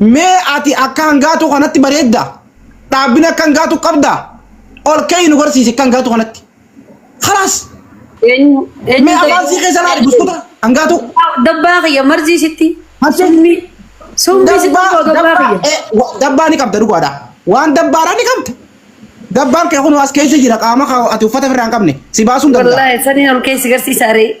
Mee ati akka hangaatuu kanatti bareedda? Dhaabbina akka hangaatuu qabda? Ol ka'ii nu garsiisi akka hangaatuu kanatti. Kalaas! Eenyu Mee eenyu afaan sii keessa laali buskuta hangaatuu. Dabbaa kiyya marzii sitti. Marsii. Summii. Summii sitti Dabbaa, immoo dabbaa dabbaa, kiyya. eh, wa- dabbaa ni qabda dhugaadha. Waan dabbaadhaa ni qabda. Dabbaan kee kun as keessa jira qaama kee ati uffata ofirraa hin qabne si baasuun danda'a. Wallaahi saniin ol keessi garsiisa aree.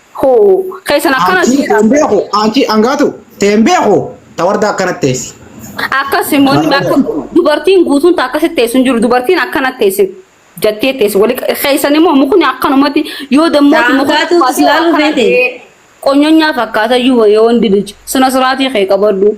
Hoo keessan akkana Aantii jiidha. ta'een beeku, aantii hangaatu ta'een beeku, ta warda akkanatti teessi. Akkas immoo inni akka dubartiin guutuun ta akkasitti teessu hin jiru. Dubartiin akkanatti teessi jattee teessi. Wali keessan immoo mukni akkanumatti yoo dammooti mukni Daangaatu akkanatti ilaaluu akkana feete. ta'ee qonyonyaa fakkaata iyyuu yoo hundi bilcha. Sina siraatii kee qabadhu.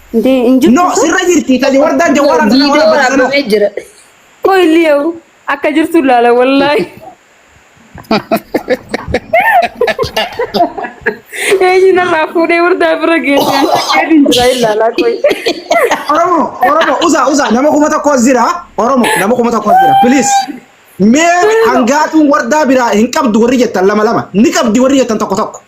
Ndee hin jirtu No, sun. sirra jirti. Taji wardaan jawwaaraan sana Viidiyoo waraabata sanoo. waraabamee jira. Qoy liyaw akka jirtu laala wallaahi. Eenyu narraa fuudhee wardaa bira geesse ani akka hin jira ilaalaa qoy. Oromo, Oromo, usa, usa. Nama kuma tokko as jira. Oromo, nama kuma tokko as jira. Please. Mee hangaatuun wardaa biraa hin qabdu warri jettan lama lama. Ni qabdi warri jettan tokko tokko.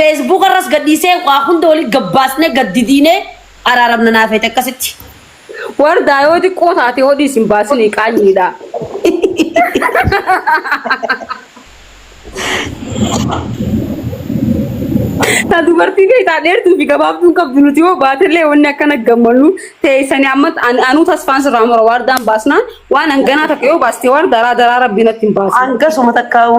Facebook irras gadhiisee waa hunda wali gabbaasnee gad didiinee araaramna naa feete akkasitti. Wardaa yoo xiqqoo taate hodhi isin baasinii qaanyiidha. Ta dubartii beektaa dheertuu fi gabaabduun qabdu nuti yoo baatellee wanni akkana gammannu teessanii amma an- anuu tasfaan sirraa mura wardaan baasnaan waan hanganaa takka yoo baaste wardaadhaa daraa rabbi natti hin baasu. Hangasuma takkaa'u.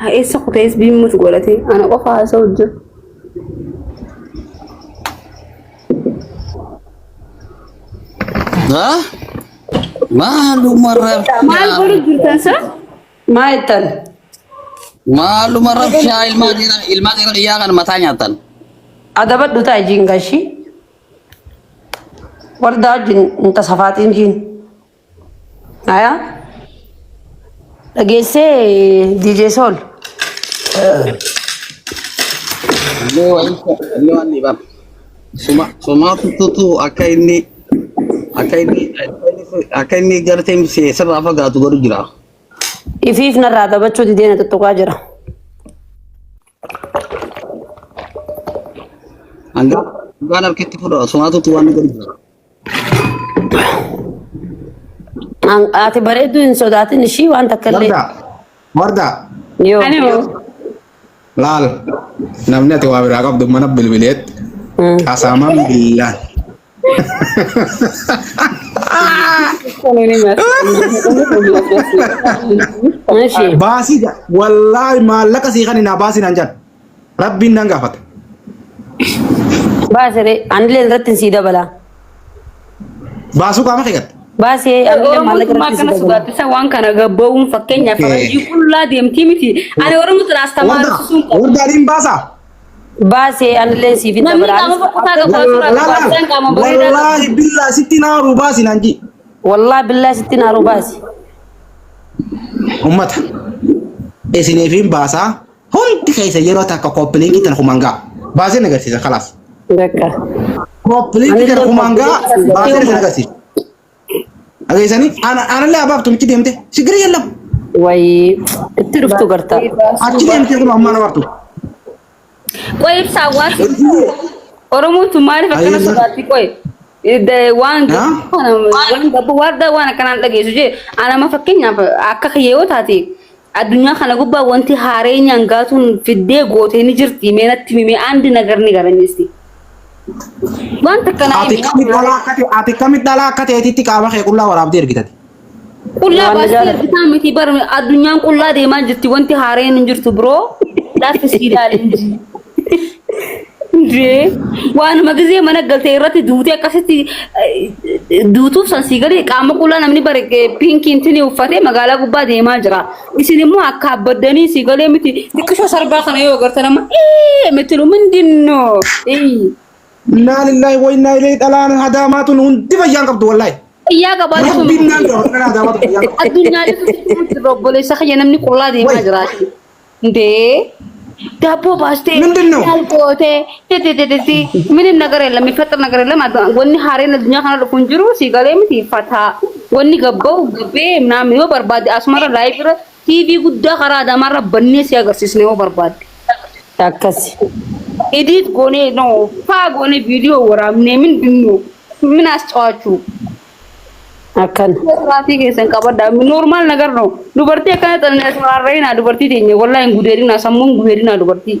Haa eessa kuta SB mut godhate ana qofa haasa'u jiru. Ha? Maaluma rabshaa. Maal godhu jirtan san? Maa jettan? Maaluma rabshaa ilmaa dhiiraa ilmaa dhiiraa dhiyyaa kan mataa nyaatan. Adabadhu ta'a jiin gashii. Wardaa wajjin hin tasafaatiin jiin. Ayaa dhageessee DJ Sool. Illee waan illee waan ni bara. Suma sumaa tuttutu akka inni akka inni akka inni gartee misee sirraa fagaatu godhu jira. Ifiif narraa taphachuu didee na tuttuqaa jira. Hangaa hangaan harkitti fudha sumaa tuttu waan ni godhu jira. An- Ati bareedduu hin sodaatin ishii waan takka illee. Wardaa. Wardaa. Yoo. Ani hoo? Laal. Namni ati waa biraa qabdu mana bilbileet. Mm. Asaamaan billaan. Ani ni mara. Ishii. Baasii wallaahi maallaqa sii kan hin baasiin an jedhu. Rabbiin nan gaafata. Baasiree anilee irratti hin sii dabalaa. Baasuu qaama keegatta. Baasee anilee Oromoo maallaqa tumaa irratti hin kana sii dabalaa. sodaachisa waan kana gabbawuun fakkeenyaaf Okay. faranjii qullaa deemtii miti. Ani Oromoo sana astamaaruu Wardaa sun qabu. wardaa niin baasaa. Baasee anilee hin siif hin Namni dabalaa. qaama kutaa qabu asirraa barbaachisaan qaama bareedaa qabu. Wallaahi billaa sitti naa rubaasi naan jii. Wallaa billaa sitti naaruu baasi. Ummata. Isiniifiin baasaa. Hundi keessa yeroo takka kooppilinki tan human gaa. Baaseen agarsiisa kalaas. Dakka. Kooppilinki tan human gaa baaseen isin agarsiisa. Dhageessanii aanallee abaaf tumichi deemte sigiri yallam. Wayii itti dhuftu gartaa. Achi deemtee kun ammaa nama artu. Qoy ibsaa waan Oromoon tun maaliif akkana sodaatti qoy. Da- waan Haa? gabbuu kana waan gabbuu waardaa waan akkanaan dhageessu jee anama fakkeenyaaf akka kiyyoo taate addunyaa kana gubbaa wanti haareenyaan gaatuun fiddee gootee ni jirti mee natti mimee andi nagar ni garanyeesti waan takka naa Ati himi kamit dhalaa akka ta'e ati kamit dhalaa akka ta'eetitti qaama kee qullaa waraabdee ergitati. Qullaa Waan baastee nagaan- ergisaa miti bar addunyaan qullaa deemaa jirti wanti haareen hin jirtu biroo laaffi sii ilaalin jee waanuma gizee mana galtee irratti duutee akkasitti eh, duutuuf san sii galee qaama qullaa namni bare eh, piinkiin tini uffatee magaalaa gubbaa deemaa jira isin immoo akka abbaddanii sii galee miti xiqqisho sarbaa kana yoo agarta nama ee mitilu mindinnoo ee Innaa lillahi wa innaa ilayhi dhalaan hadaamaa tun hundi fayyaan qabdu wallahi. Fayyaa qabaachuu Rabbiin naan qaba akka naa daawwatu fayyaa qaba. Addunyaa irratti dhumutti irra obboleessa kiyya namni qullaa deemaa Wai. jiraati. Dee daabboo baastee Mindin noo? maal gootee dedededesi minin nagara illa mifaxir nagara illa maaddu wanni haareen addunyaa kana dhufu hin jiru sii galee miti fataa wanni gabba'u gabbee naam yoo barbaade asumara laayif irra TV guddaa karaa Adaamaarra bannee si agarsiisna yoo barbaadde. Akkasi. Edit goonee no faa goonee viidiyoo waraabnee min binnuu min ascawaachuu. Akkan. Siraatii keessan qabadha. Normaal nagar no. Dubartii akkana xanneessu raarra'inaa dubartii teenya wallaa hin gudeerinaa sammuun gudeerinaa dubartii.